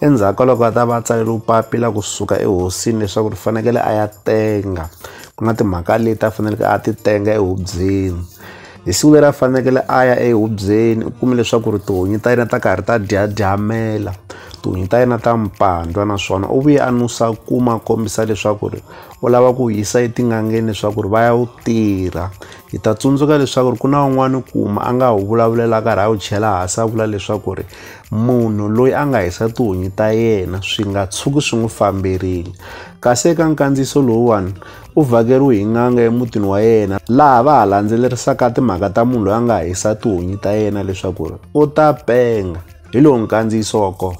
endzhaku ka loko a ta va a tsaleriwe papila kusuka ehosini leswaku ri fanekele a ya tenga ku na timhaka leti a faneleke a ti tenga ehubyeni hi siku leri a fanekele a ya ehubyeni u kume leswaku ri tihunyi ta yena ta karhi ta dyadyamela tihunyi ta yena ta mpandwa naswona u vuye a nusa kuma kombisa leswaku ri u lava ku yisa etin'angeni leswaku ri va ya wu tirha Hi ta tsundzuka leswaku ri ku na un'wana kuma a nga wu vulavulela karhi a wu chela hansi a vula leswaku ri munhu loyi a nga hisa tihunyi ta yena swi nga tshuki swi n'wi famberile kasi eka nkandziyiso lowuwani u vhakeriwe hi n'anga emutini wa yena laha va ha landzelerisaka timhaka ta munhu loyi a nga hisa tihunyi ta yena leswaku ri u ta penga hi lowu nkandziyiso wa kona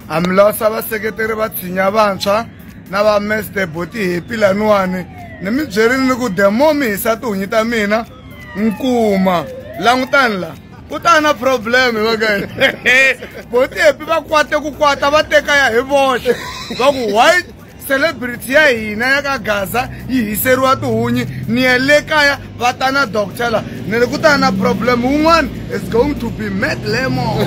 hambilasa vaseketeri va tshinya vantshwa na va mester boti hepi laniwani ni mi byerile ni ku demo mi hisa tihunyi ta mina nkuma langutani la ku ta na problem vakae boti hepi va kwate ku kwata va teka ya hi voxe va ku white celebrity ya hina ya ka gaza yi hiseriwa tihunyi ni ya le kaya va ta na doctor la ni ri ku ta na problem wun'wana is going to be mad lemon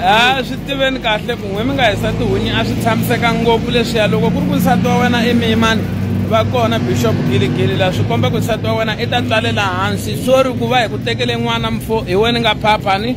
a swi tiveni kahle ku n'we mi nga hisa tihunyi a swi tshamiseka ngopfu leswiya loko ku ri ku nsati wa wena i miyimani va kona bishop giligili la swi komba ku nsati wa wena i ta tswalela hansi swo ri ku va hi ku tekele n'wana mfo hi wena nga phaphani